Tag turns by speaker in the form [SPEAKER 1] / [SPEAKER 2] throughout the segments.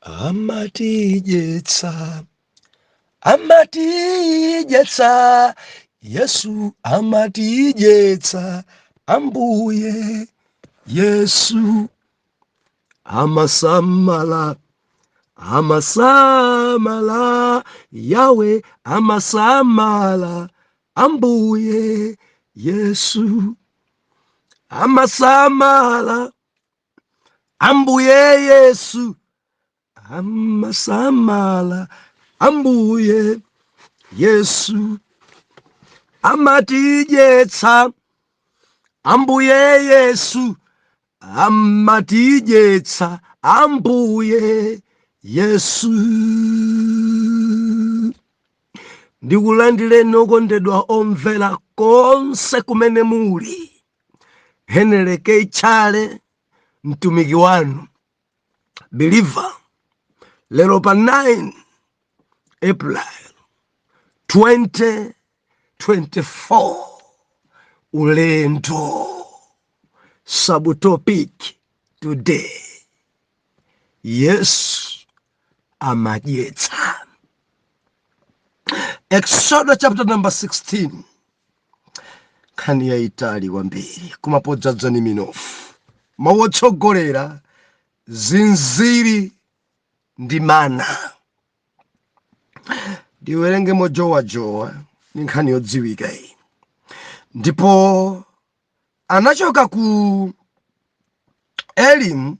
[SPEAKER 1] amatidyetsa amatidyetsa yesu amatidyetsa ambuye yesu amasamala amasamala yawe amasamala ambuye yesu amasamala ambuye yesu amasamala ambuye yesu amatidyetsa ambuye yesu amatidyetsa ambuye yesu ndikulandireni okondedwa omvera konse kumene muli Henry K. Chale mtumiki wanu believer lero pa 9 April 2024 ulendo subtopic today yesu amadyetsa exodo chapter number 16 nkhani yayitali kwambiri koma podzadza ndi minofu mawu otsogolera zinziri ndi mana ndiwerenge mojowajowa ndi nkhani yodziwika iyi ndipo anachoka ku elimu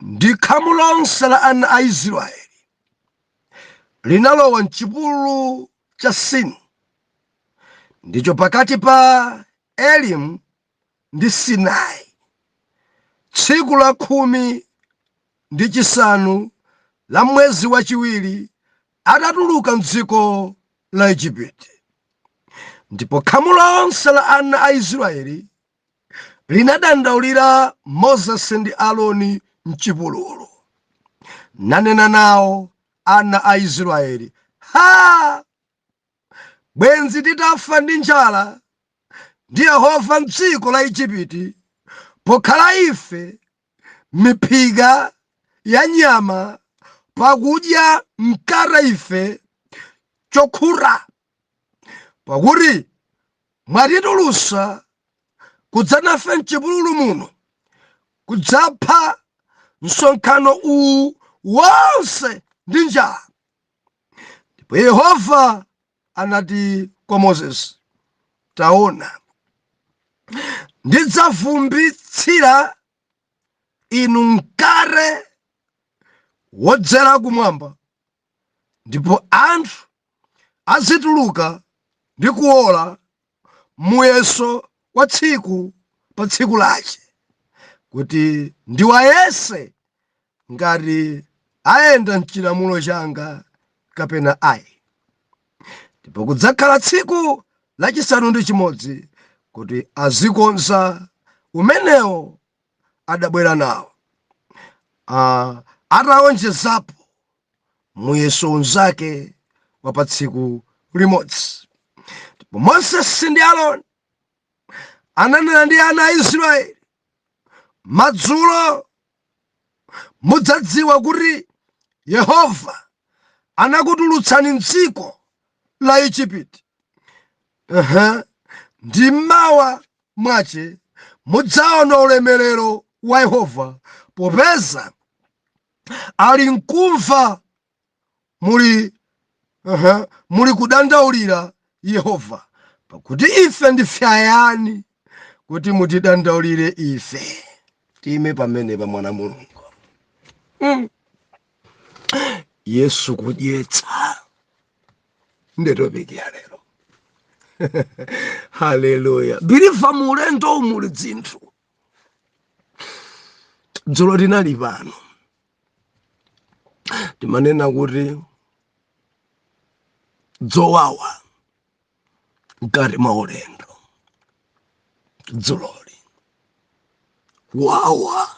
[SPEAKER 1] ndi khamu lonse la ana a israeli linalowa mchipululu cha sini ndicho pakati pa elimu ndi sinai tsiku la khumi ndi chisanu la mwezi wachiwiri atatuluka mdziko la ejipiti ndipo khamu lonse la ana a israeli linadandaulira Moses ndi Aroni m'chipululu, nanena nao ana a Israyeli, Ha! Bwenzi titafa ndi njala ndi Yehova m'dziko la Ejipiti, pokhala ife miphika ya nyama pakudya mkate ife chokhuta. pakuti mwatitulusa kudzanafe mchipululu muno kudzapha msonkhano uwu wonse ndi njala ndipo yehova anati kwa mosesi taona ndidzavumbitsira inu mkate wodzera kumwamba ndipo anthu azituluka ndi kuwola muyeso wa tsiku pa tsiku lace kuti ndiwayese ngati ayenda m'cilamulo canga kapena ayi ndipo kudzakhala tsiku lacisanu ndi cimodzi kuti azikonza umenewo adabwera nawo. Ah, atawonjezapo muyeso unzake wa pa tsiku limodzi ndipo mosesi ndi aroni ananena ndi ana a israeli madzulo mudzadziwa kuti yehova anakutulutsani mdziko la ejipiti Uh-huh. Ndi mmawa mwace mudzaona ulemerero wa Yehova, popeza ali mkumva muli uh-huh, muli kudandaulira Yehova, pakuti ife ndife ayani kuti mutidandaulire ife. Tiime pamenepa mwana Mulungu. Mm. Yesu kudyetsa. nde topiki ya lero haleluya biliva mu ulendowu muli dzinthu dzulo tinali pano timanena kuti dzowawa mkati mwa ulendo dzuloli wawa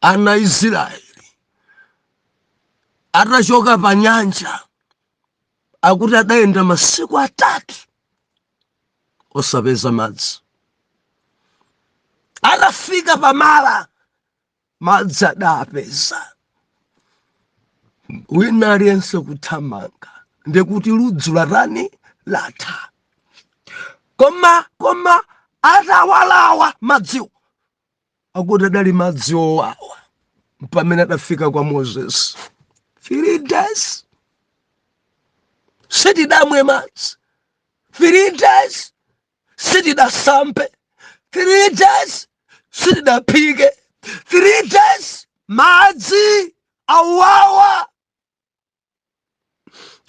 [SPEAKER 1] ana a israeli atachoka pa nyanja akuti adayenda masiku atatu osapeza madzi atafika pa mara madzi adapeza wina aliyense kuthamanga ndikuti ludzu latani latha koma koma atawalawa madziwo akuti adali madzi owawa pamene adafika kwa moses three days sitidamwe madzi three days sitidasambe 3 days sitidaphike 3 days madzi awawa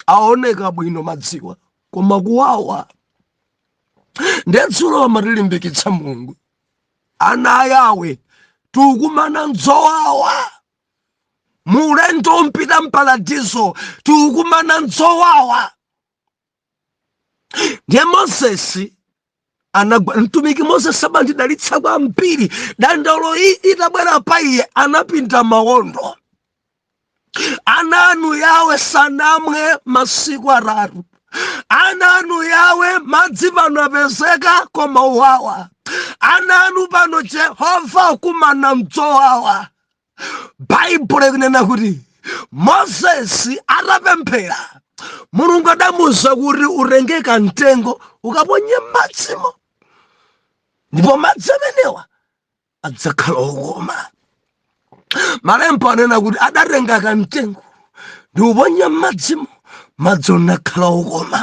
[SPEAKER 1] aoneka bwino madziwa koma kuwawa nde dzulo amatilimbikitsa mulungu ana a yawe tikukumana mdzowawa muulendo wopita mparadiso tikukumana mdzowawa ndiye mozesi anagwa mtumiki moses amandidalitsa kwambiri dandauloyi itabwera pa iye anapinda mawondo ana anu yawe sanamwe masiku atatu ana anu yawe madzi pano apezeka koma uwawa ana anu pano jehova akumana mdzowawa baibulo ikunena kuti mozesi atapemphera mulungu adamuuza kuti utenge kamtengo ukaponye m'madzimo ndipo madzi amenewa adzakhala okoma malemba anena kuti adatenga kamtengo ndi kuponya m'madzimo madzi anakhala okoma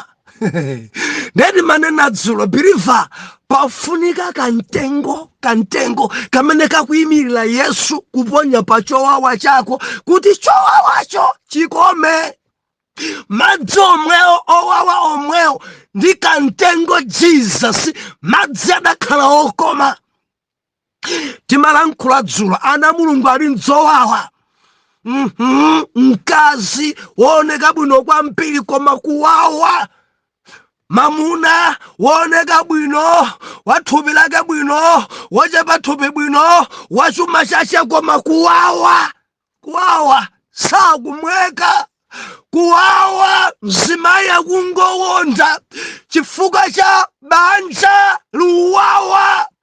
[SPEAKER 1] nde timanena dzulo biliva pafunika kamtengo kamtengo kamene kakuyimirira yesu kuponya pa chowawa chako kuti chowawacho chikome madzi omwewo owawa omwewo ndi kamtengo jesus madzi adakhala okoma timalankhula dzulo ana mulungu ali mdzowawa mkazi wooneka bwino kwambiri koma kuwawa mamuna wooneka bwino wathupi lake bwino wochepa thupi bwino wachuma chache koma kuwawa kuwawa sakumweka kuwawa mzimayi akungowonda chifukwa cha banja likuwawa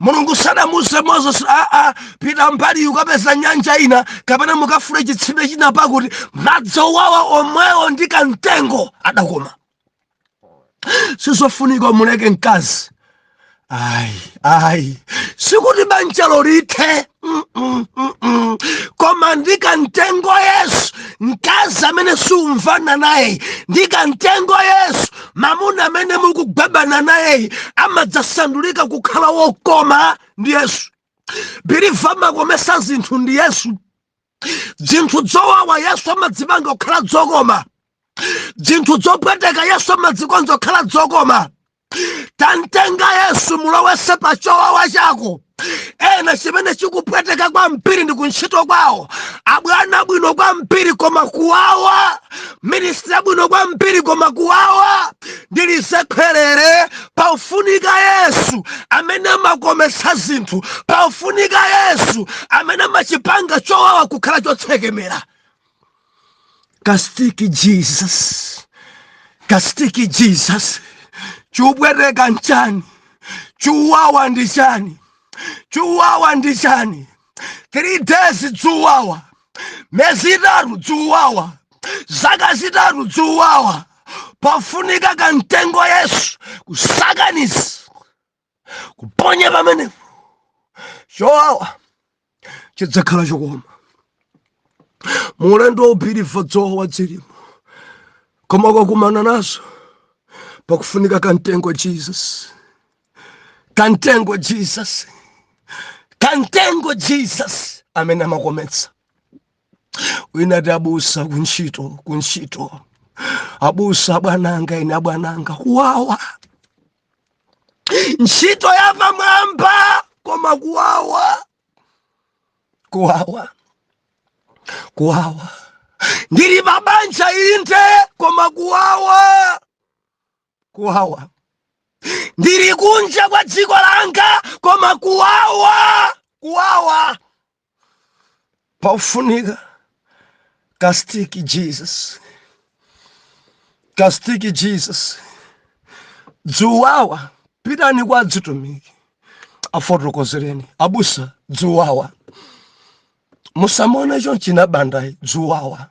[SPEAKER 1] mulungu sadamuuze moses aa pita mbali ukapeze nyanja ina kapena mukafune chitsime china pakuti madzi owawa omwewo ndi kamtengo adakoma sizofunika muleke mkazi ayi ayi sikuti banjalo lithe koma ndi kamtengo yesu mkazi amene siumvana naye ndi kamtengo yesu mamuna amene mukugwebana naye amadzasandulika kukhala wokoma ndi yesu biliva amakomesa zinthu ndi yesu dzinthu dzowawa yesu amadzipanga kukhala dzokoma dzinthu dzopweteka yesu amadzikonza kukhala dzokoma tamtenga yesu mulowese pa chowawa chako ena chimene chikupweteka kwambiri ndi kuntchito kwawo abwana abwino kwambiri koma kuwawa ministri abwino kwambiri koma kuwawa ndilisekherere Paufunika Yesu amene amakometsa zinthu. Paufunika Yesu amene amachipanga chowawa kukhala chotsekemera. Kastiki Jesus, kastiki Jesus. Chupweteka nchani? Chuwawa ndi chani? Chuwawa ndi chani? 3 days dzuwawa miyezi itatu dzuwawa zaka zitatu dzuwawa pafunika kamtengo yesu kusakaniza kuponya pamenepo chowawa chidzakhala chokoma mu ulendo wa ubiliva dzowawa dzilimo koma kwakumana nazo pakufunika kamtengo jesus kantengo jesus kantengo jesus amene amakometsa wina ati abusa kuntchito kuntchito abusa abwananga ine abwananga kuwawa ntchito yapamwamba koma kuwawa kuwawa kuwawa ndili pabanja inde koma kuwawa kuwawa ndili kunja kwa dziko langa koma kuwawa kuwawa paufunika kastiki jesus kastiki jesus dzuwawa pitani kwa adzitumiki afotokozereni abusa dzuwawa musamaone chonchina bandayi dzuwawa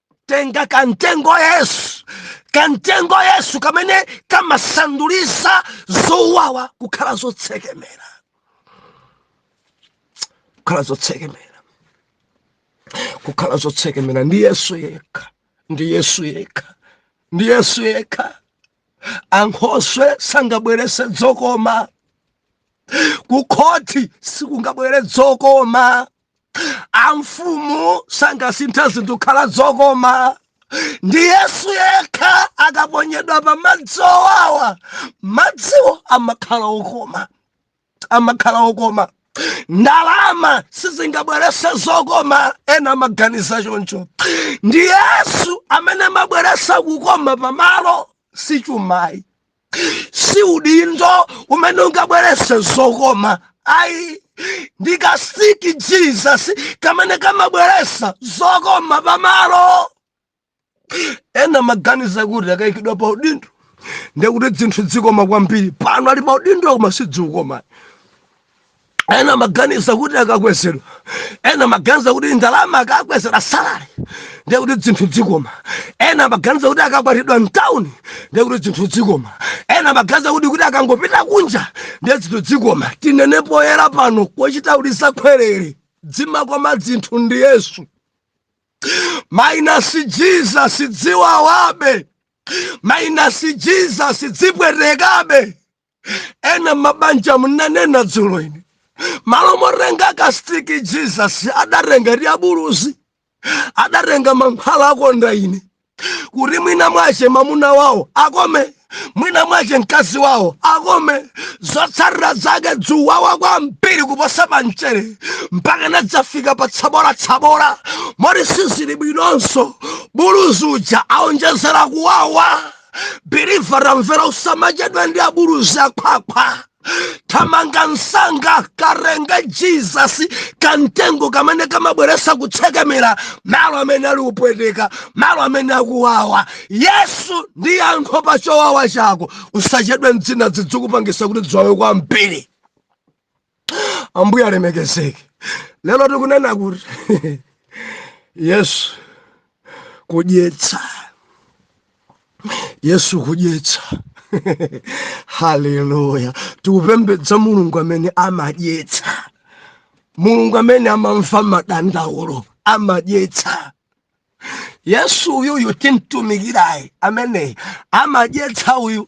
[SPEAKER 1] tenga kantengo yesu kantengo yesu kamene kamasanduliza zowawa kukhala zotsekemera kukhala zotsekemera kukhala zotsekemera ndi yesu yekha ndi yesu yekha ndi yesu yekha ankhoswe sangabwerese dzokoma kukhoti sikungabwere dzokoma amfumu sangasintha zinthu kukhala zokoma ndi yesu yekha akaponyedwa pa madzi owawa madziwo amakhala okoma amakhala okoma ndalama sizingabwerese zokoma ena amaganiza choncho ndi yesu amene amabweresa kukoma pamalo si chuma ayi si udindo umene ungabwerese zokoma ayi ndi kastiki jesus kamene kamabweresa zokoma pamalo ena amaganiza kuti akayikidwa pa udindo ndekuti dzinthu dzikoma kwambiri pano ali pa udindo koma sidzikoma ena amaganiza kuti akakwezedwa ena amaganiza kuti ndalama akakwezera salari ndiye kuti dzinthu dzikoma ena amaganiza kuti akakwatidwa mtawuni ndiye kuti dzinthu dzikoma ena amaganiza kuti kuti akangopita kunja ndiye dzinthu dzikoma tinene poyera pano kochita ulusa kwerere dzimakoma dzinthu ndi yesu minus jesus dziwawabe minus jesus dzipwetekabe ena mmabanja ndinanena dzulo ine malo motenga kastiki jesus adatenga tiabuluzi adatenga mankhwala a kondaine kuti mwina mwache mamuna wawo akome mwina mwache mkazi wawo akome zotsatira zake dzikuwawa kwambiri kuposa pamchere mpaka inadzafika pa tsabola tsabola moti sizili bwinonso buluzi uja aonjezera kuwawa believer tamvera usamachedwa ndi abuluzi akhwakhwa thamanga msanga katenge jesus kamtengo kamene kamabweretsa kutsekemera malo amene ali kupweteka malo amene akuwawa yesu ndi yankho pa chowawa chako usachedwe ndi zina zidzikupangitsa kuti dziwawe kwambiri ambuye alemekezeke lero tikunena kuti yesu kudyetsa yesu kudyetsa haleluya tikupembedza mulungu amene amadyetsa mulungu amene amamva madandaulo amadyetsa yesu uyuyu timtumikirayi ameneyi amadyetsa uyu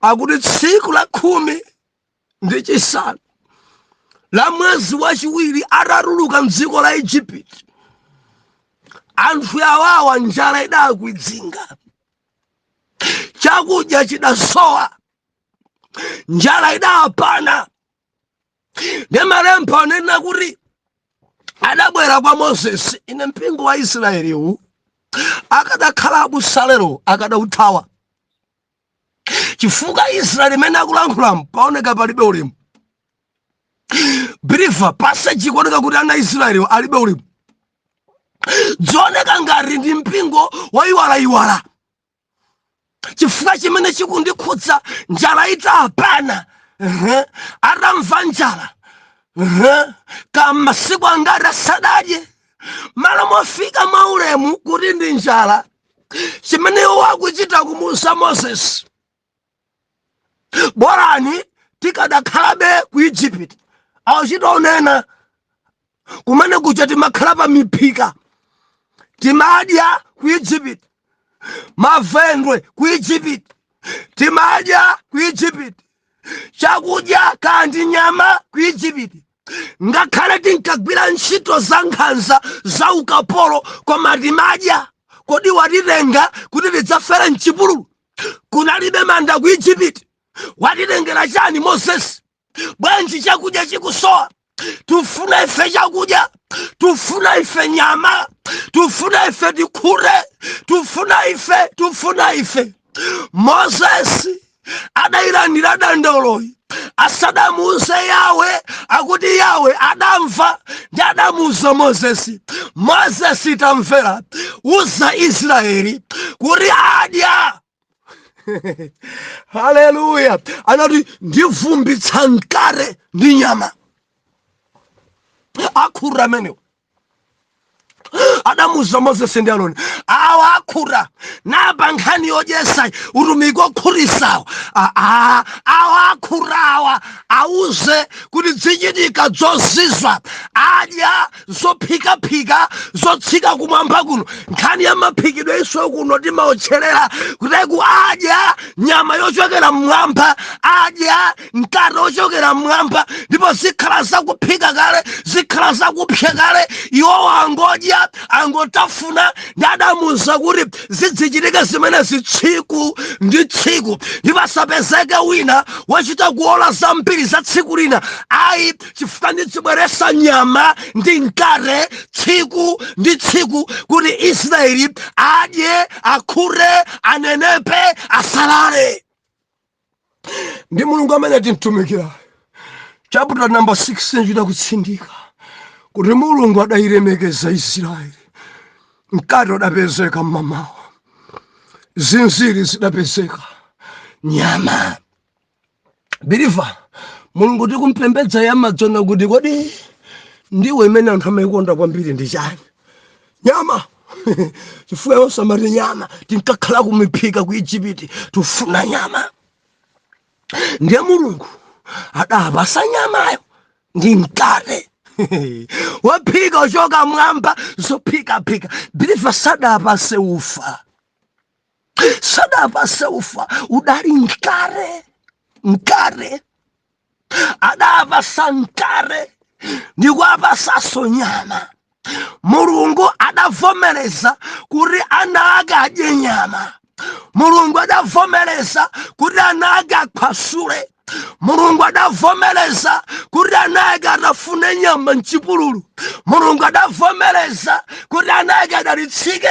[SPEAKER 1] akuti tsiku la khumi ndi chisanu la mwezi wachiwiri atatuluka mdziko la ijipiti anthu awawa njala idawakwidzinga chakudya chidasowa njala idawapana ndi malemba anena kuti adabwera kwa moses ine mpingo wa israeli uwu akadakhala abusalero akadauthawa chifukwa israeli mmene akulankhulamu paoneka palibe ulemu believer passage ikuoneka kuti ana aisraeli alibe ulemu dzioneka ngati ndi mpingo waiwalaiwala chifukwa chimene chikundikhudza njala itawapana atamva njala kaya masiku angati asadadye malo mofika mwaulemu kuti ndi njala chimene iwo akuchita kumuuza moses bolani tikadakhalabe ku egypt achita onena kumene kuja timakhala pa miphika timadya ku egypt mavendwe ku egypt timadya ku egypt chakudya kaya ndi nyama ku egypt ngakhale tinkagwira ntchito za nkhanza za ukapolo koma timadya kodi watitenga kuti tidzafere mchipululu kunalibe manda ku egypt watitengera chani moses bwanji chakudya chikusowa tufuna ife chakudya tufuna ife nyama tufuna ife tikhure tufuna ife tufuna ife moses adayilandira dandauloyi asadamuuze yawe akuti yawe adamva ndi adamuuza mozesi mozesi tamvera uza israeli kuti adya haleluya anati ndivumbitsa mkate ndi nyama akhuta amenewo adamuza moses ndi aroni awa akhuta apa nkhani yodyetsa utumiki okhutitsawo aa awa akhutawa auze kuti dzichitika dzozizwa adya zophikaphika zotsika kumwamba kuno nkhani ya maphikidwe ife kuno timaotcherera kuti ku adya nyama yochokera mmwamba adya mkate wochokera mmwamba ndipo zikhala zakuphika kale zikhala zakupsya kale iwowo angodya angotafuna ndi adamuza kuti zidzichitika zimenezi tsiku ndi tsiku ndipo asapezeke wina wochita kuola zambiri za tsiku lina ayi chifukwa ndidzibweretsa nyama ndi mkate tsiku ndi tsiku kuti israeli adye akhute anenepe asalale ndi mulungu amene timtumikira chaputa namba 16 chidakutsindika kuti mulungu adailemekeza israeli mkate udapezeka mmamawa zinziri zidapezeka nyama biliva mulungu tikumpembedza yamadzona kuti kodi ndiwo imene anthu amaikonda kwambiri ndi chani nyama chifukwa iwo ankati nyama tinkakhala kumiphika ku ijipiti tikufuna nyama ndiye mulungu adawapatsa nyamayo ndi mkate wophika kuchoka mmwamba zophikaphika biliva sadawapatse ufa sadawapatse ufa udali mkate mkate adawapatsa mkate ndikuwapatsanso nyama mulungu adavomereza kuti ana ake adye nyama mulungu adavomereza kuti ana ake akhwasule mulungu adavomereza kuti ana ake atafune nyama mchipululu mulungu adavomereza kuti ana ake adalitsike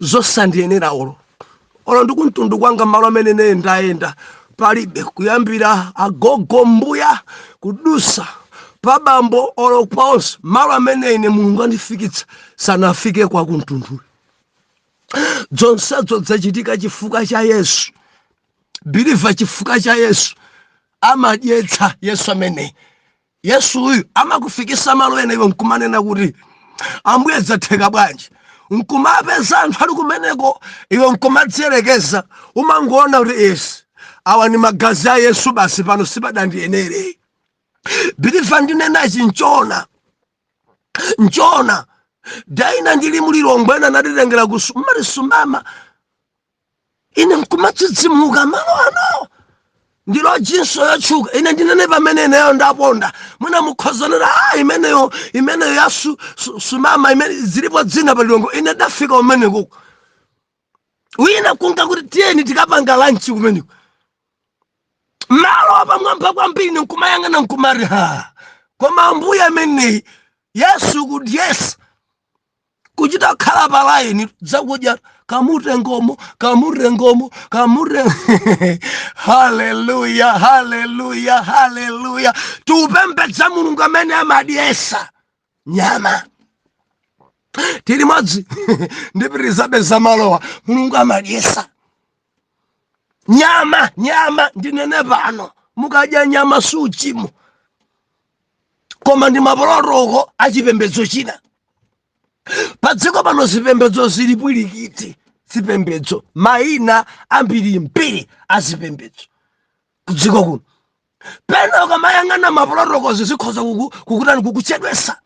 [SPEAKER 1] zosandiyenera olo olo ndikumtundu kwanga malo amene ine ndayenda palibe kuyambira agogo mbuya kudusa pabambo olo onse malo amene ine mulungu andifikitsa sanafike akumtunduyo zonsezo zachitika chifukwa cha yesu biliva chifukwa cha yesu amadyetsa yesu amene Yesuyu amakufikisa malo ena iwe nkumanena kuti ambuye zatheka bwanji nkumapeza anthu ali kumeneko iwe nkumadziyerekeza umangoona kuti esi awa ni magazi a yesu basi pano sipadandiyenere biliva ndinenachi nchoona nchoona day ina ndili mu Lilongwe ena anatitengera kusu mmati sumama ine nkumadzidzimuka malo anowa ndi lojinso yotchuka ine ndinene pamene ineyo ndaponda mwina mukhozanira a imeneyo imeneyo ya su, su, sumama imene zilipo dzina pa Lilongwe ine ndafika kumeneko wina kunga kuti tiyeni tikapange lanchi kumeneko malo apamwamba kwambiri nkumayang'ana nkumati ha koma ambuye ameneyi yesu kudyesa kuchita kukhala pa line zakudya kamutengomo kamutengomo kamure haleluya haleluya haleluya tikupembedza mulungu amene amadyesa nyama tili m'madzi ndipitirizabe za malowa mulungu amadyesa nyama nyama ndinene pano mukadya nyama suchimo koma ndi mapolotoko a chipembedzo china padziko pano zipembedzo zili piringiti zipembedzo mayina ambirimbiri a zipembedzo kudziko kuno pena ukamayang'ana mapolotokozi zikhoza kuku- kukutani kukuchedwesa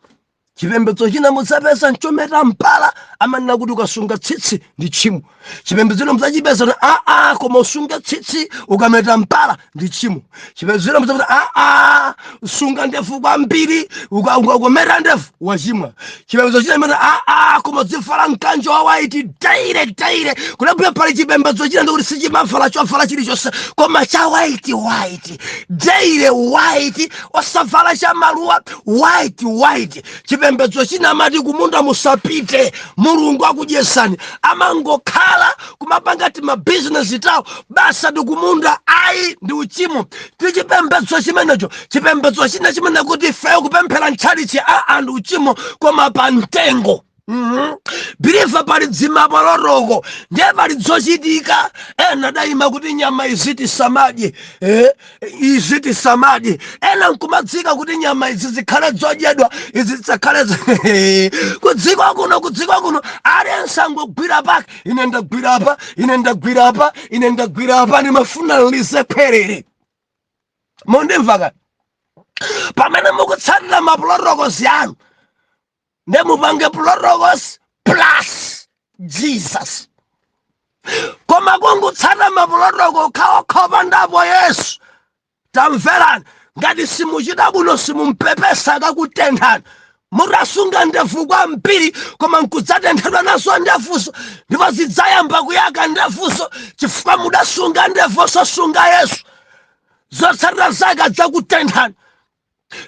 [SPEAKER 1] chipembedzo china mudzapeza nchometa mpala amanena kuti ukasunga tsitsi ndi tchimo chipembedzo china mudzachipeza kuti aa koma usunge tsitsi ukameta mpala ndi tchimo chipembedzo china mudzapeza kuti aa sunga ndefu kwambiri uka- uka- ukameta ndefu wachimwa chipembedzo china chimanena aa koma udzivala mkanjo wa waiti daile daile kulabwira pali chipembedzo china ndikuti sichimavala chovala chilichonse koma cha waiti waiti daile waiti osavala cha maluwa white white chipembedzo china amati kumunda musapite mulungu akudyesani amangokhala kumapanga timabhizinesi tawo basi ati kumunda ayi ndi uchimo ndi chipembedzo chimenecho chipembedzo china chimanena kuti ifeyo kupemphera mtchalitchi ndi uchimo koma pa mtengo Mhm. believer pali dzimapulotoko ndiye pali dzochitika ena adayima kuti nyama izi tisamadye eh, izi tisamadye ena nkumadzika kuti nyama izi zikhale dzodyedwa izi zisakhale zi- kudziko kuno kudziko kuno aliyense angogwira pake ine ndagwira apa ine ndagwira apa ine ndagwira apa ndimafuna ndilisepherere mundimvaka pamene mukutsatira mapulotokozi anu nde mupange protocols plus jesus koma kungutsata mapulotoko okhaokha opandapo yesu tamverani ngati simuchita bwino simumpepesa akakutenthani mutasunga ndevu kwambiri koma nkudzatenthedwa nazo ndevuzo ndipo zidzayamba kuyaka ndevuzo chifukwa mudasunga ndevu osasunga yesu zotsatira zake adzakutenthani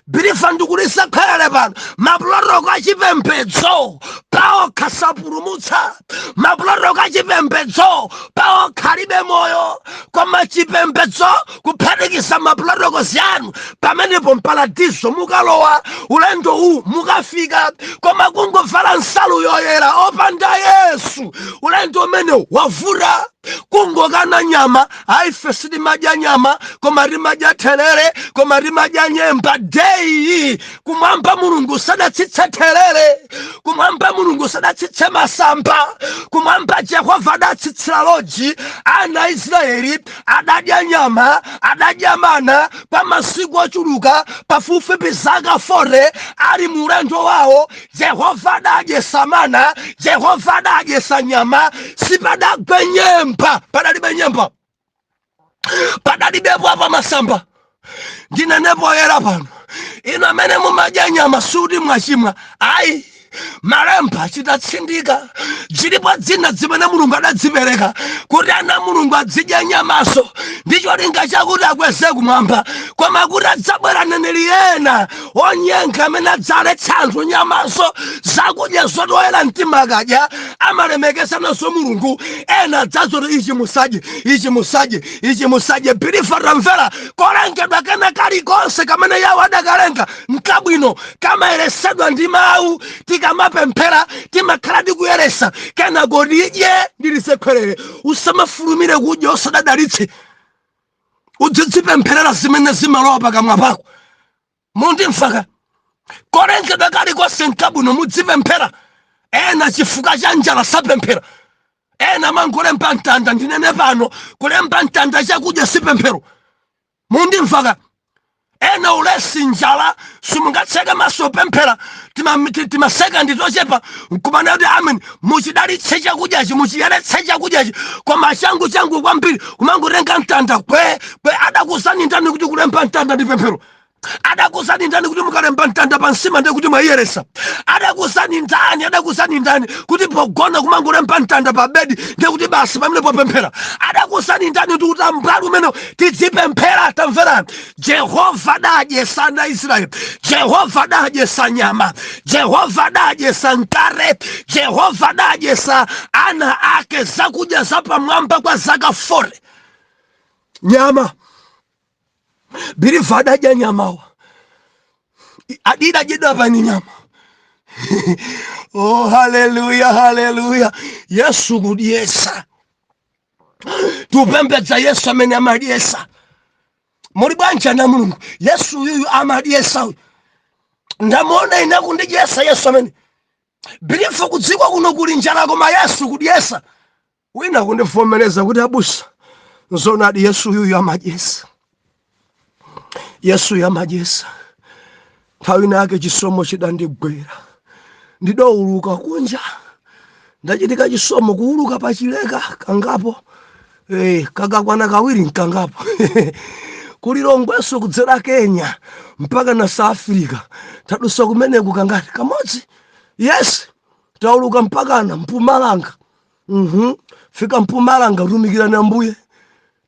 [SPEAKER 1] believer ndikulisakhalale pano mapulotoko achipembedzo paokha sapulumutsa mapulotoko achipembedzo paokha alibe moyo koma chipembedzo kuphatikiza mapulotokozi anu pamenepo mparadiso mukalowa ulendo uwu mukafika koma kungovala nsalu yoyera opanda yesu ulendo umenewu wavuta kungokana nyama ayi ife sitimadya nyama koma timadya therere koma timadya nyemba dei kumwamba mulungu sadatsitse therere kumwamba mulungu sadatsitse masamba kumwamba jehova adatsitsira loji ana a israeli adadya nyama adadya mana kwa masiku ochuluka pafupifupi zaka 40 ali mu ulendo wawo Yehova adadyesa mana, Yehova adadyesa nyama, sipadagwe nyemba, padalibe nyemba, padalibepo apa masamba. Ndinene poyera pano, inu amene mumadya nyama sikuti mwachimwa, ayi malemba achita tsindika zilipo dzina zimene mulungu adadzipereka kuti ana a mulungu adzidya nyamaso ndi cholinga chakuti akweze kumwamba koma kuti adzabwera aneneri ena onyenga amene adzaletsa anthu nyamanso zakudya zoti oyera mtima akadya amalemekeza nazo mulungu ena adza zoti ichi musadye ichi musadye ichi musadye believer tamvera kolengedwa kena kalikonse kamene yahwe adakalenga nkabwino kamayeresedwa ndi mawu tikamapemphera timakhala tikuyeresa kena kodi idye ndilisekhwerere usamafulumire kudya usadadalitse udzidzipempherera zimene zimalowa pakamwa pako mundimvaka kolengedwa kalikonse nkabwino mudzipemphera ena chifukwa cha njala sapemphera ena mangolemba mtanda ndinene pano kulemba mtanda chakudya si pemphero mundimvaka ena ulesi njala simungatseke maso pemphera timasekandi tochepa nkumana kuti amen muchidalitse chakudyachi muchiyeretse chakudyachi koma changu changu kwambiri kumangotenga mtanda kwe kwe adakuzani ndani kuti kulemba mtanda ndi pemphero adakuzani ndani kuti mukalemba mtanda pa nsima ndi kuti mwayiyeretsa adakuzani ndani adakuzani ndani kuti pogona kumangolemba mtanda pa bedi ndi kuti basi pamenepo pemphero adakuzani ndani kuti utambwali umene tidzipemphera tamvera jehova adadyesa ana a israeli jehova adadyesa nyama jehova adadyesa mkate jehova adadyesa ana ake zakudya zapamwamba kwa zaka 40 nyama biliva adadya nyama wa adidadyedwapo ndi nyama oh haleluya haleluya yesu kudyesa tikupembedza yesu amene amadyesa muli m'banja la mulungu yesu uyuyu amadyesa uyu ndamuona ine akundidyesa yesu amene biliva kudziko kuno kuli njala koma yesu kudyesa wina kundivomereza kuti abusa nzonadi yesu uyuyu amadyesa yesu uyu amadyesa nthawi inayake chisomo chidandigwera ndidauluka kunja ndachitika chisomo kuuluka pachileka kangapo eh, kakwana kawiri nkangapo kulilongweso kudzera kenya mpakana south africa tadusa kumeneku kangati kamodzi yes tauluka mpakana mpumalanga mhm kufika mpumalanga kutumikira ambuye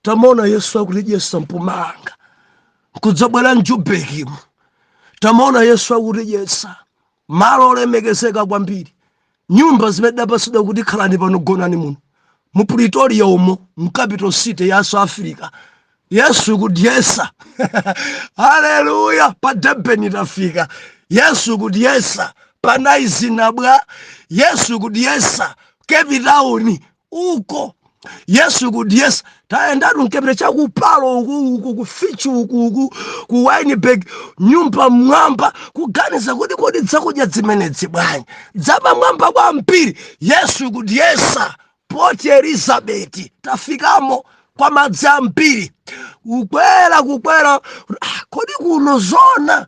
[SPEAKER 1] tamuona yesu akutidyesa mpumalanga nkudzabwera mjubekimu tamuona yesu akutidyesa malo olemekezeka kwambiri nyumba zimene tidapasidwa kuti khalani pano gonani muno mu pretoria umo mu capital city ya south africa yesu kudyesa haleluya pa durban tafika yesu kudyesa pa knysna apa yesu kudyesa cape town uko yesu kudyesa tayendatu m'cape mu cha ku parow uku uku ku fish hoek uku ku wynberg nyumba m'mwamba kuganiza kuti kodi dzakudya dzimenedzi bwanji dzapamwamba kwambiri yesu kudyesa port elizabeth tafikamo kwa madzi ambiri kukwera kukwera Ah, kodi kuno zona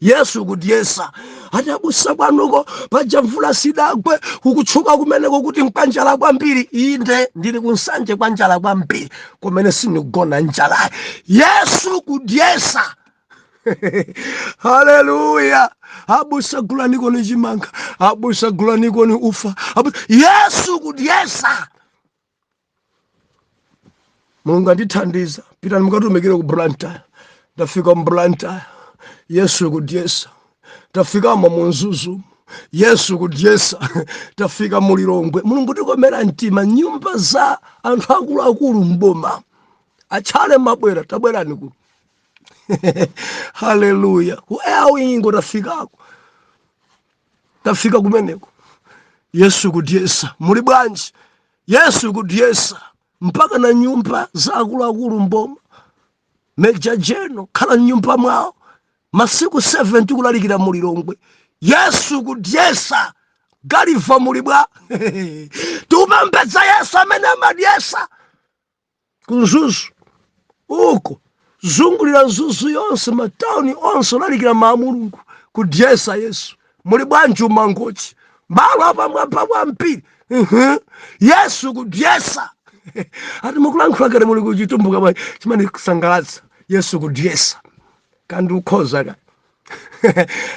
[SPEAKER 1] yesu kudyesa ati abusa kwanuko paja mvula sidagwe kukutchuka kumeneko kuti nkwanjala kwambiri inde ndili ku nsanje kwanjala kwambiri kumene sinikugona njalayi yesu kudyesa haleluya abusa gulanikoni chimanga abusa gulanikoni ufa abusa. yesu kudyesa mulungu andithandiza pitani mukatumikire ku blantyre tafika mu blantyre yesu kudyesa tafikamo mu mzuzu yesu kudyesa tafika mu lilongwe mulungu kutikomera mtima nyumba za anthu akuluakulu mboma atchale mabwera tabwerani ku haleluya ku airwing tafikako tafika kumeneko yesu kudyesa muli bwanji yesu kudyesa mpaka na nyumba za akuluakulu mboma major general khala mnyumba mwawo masiku 7 tikulalikira mulilongwe yesu kudyesa Gulliver muli bwa tikupembedza yesu amene amadyesa ku mzuzu uko zungulira mzuzu yonse matauni onse kulalikira mawu a mulungu kudyesa yesu muli bwanji ku mangochi malo apamwamba kwambiri Mhm. yesu kudyesa ati mukulankhula kodi muli kuchitumbuka bwa chimene kusangalatsa yesu kudyesa kandi ukhoza kaya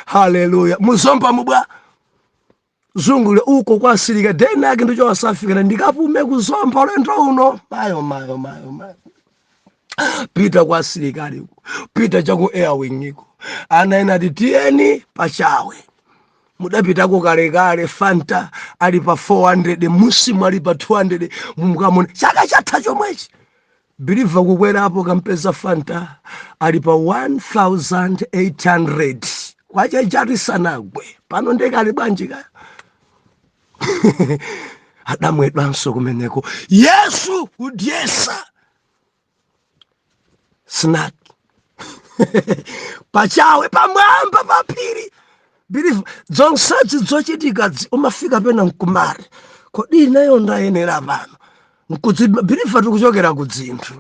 [SPEAKER 1] haleluya muzombamo bwa zungulire uko kwa asilikali deni ake ndicho wasafikira ndikapume kuzomba ulendo uno mayo mayo mayo mayo pita kwa asilikali uko pita chaku airwing uko ana ena ati tiyeni pachawe mudapitako kalekale fanta ali pa 400 musimu ali pa 200 mukamuone chaka chatha chomwechi believer kukwera apo kampeza fanta ali pa 1800 kwacha yathu isanagwe pano nde kali bwanji kaya adamwedwanso kumeneko yesu kudyesa snack pachawe pamwamba pa phiri believer zonsezi zochitika dzi- umafika pena mkumari kodi ineyo ndayenera pano nkudzidwa believer tikuchokera ku dzinthu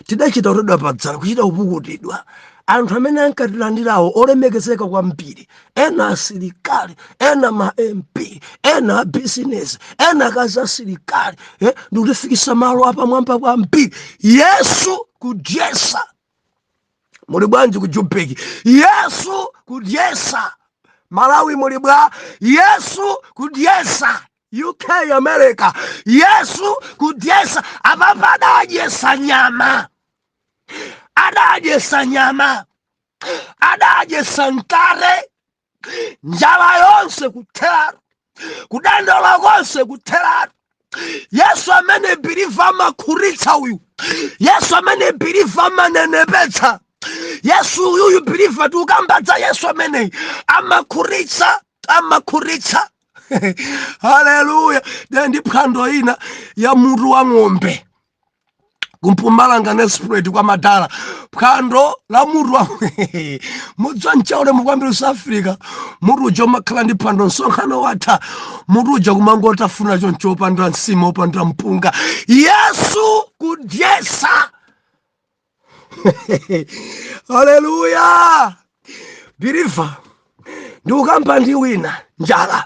[SPEAKER 1] tidachita kutoledwa padzala kuchita kupukutidwa anthu amene ankatilandirawo olemekezeka kwambiri ena asilikali ena ma mp ena abizinesi ena akazi asilikali eh, ndi kutifikitsa malo apamwamba kwambiri yesu kudyesa muli bwanji ku jubeki yesu kudyesa malawi muli bwa yesu kudyesa uk america yesu kudyesa apapa adadyesa nyama adadyesa nyama adadyesa mkate njala yonse kutheratu kudandaula konse kutheratu yesu ameneyi biliva amakhutitsa uyu yesu ameneyi biliva amanenepetsa yesu uyuyu biliva tiukamba za yesu ameneyi amakhutitsa amakhutitsa haleluya ndi phwando ina ya mutu wa ng'ombe ku mpumalanga nelspruit kwa madala phwando la mutu wa mudziwa mchaule mukwambiri south africa mutu uja umakhala ndi phwando msonkhano watha mutu uja kumangotafuna choncho opanda nsima opanda mpunga yesu kudyesa haleluya biliva ndiukamba ndi wina njala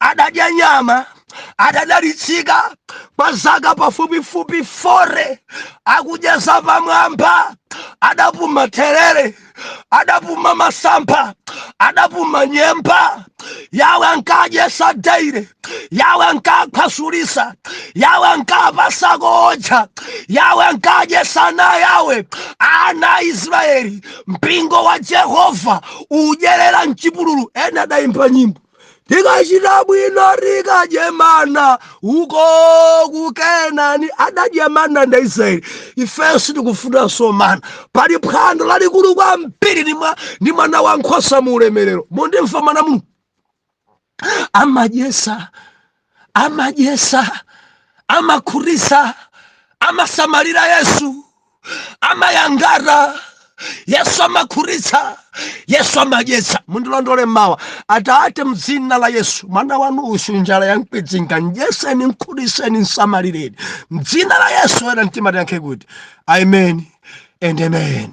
[SPEAKER 1] adadya nyama adadalitsika kwa zaka pafupifupi fore akudya zapamwamba adapuma therere adapuma masampha adapuma nyemba yawe ankadyesa daire yawe ankakhwasulisa yawe ankapasako ocha yawe ankadyesa ana yawe ana israeli mpingo wa jehova udyerera mchipululu ena adayimba nyimbo tikachita bwino tikadye mana uko ku kenani adadya mana ndi aisraeli ifenso tikufunanso mana pali phwando lalikulu kwambiri ndi mwana wa nkhosa mu ulemerero mundimva mwana muno amadyesa amadyesa amakhutitsa amasamalira yesu amayangata yesu amakhutitsa yesu amadyesa mundilondole mmawa atate mdzina la yesu mwana wanu uyu njala yankwidzinga ndyeseni nkhutiseni nsamalireni mdzina la yesu oyera mtima tiyankhe kuti amen and amen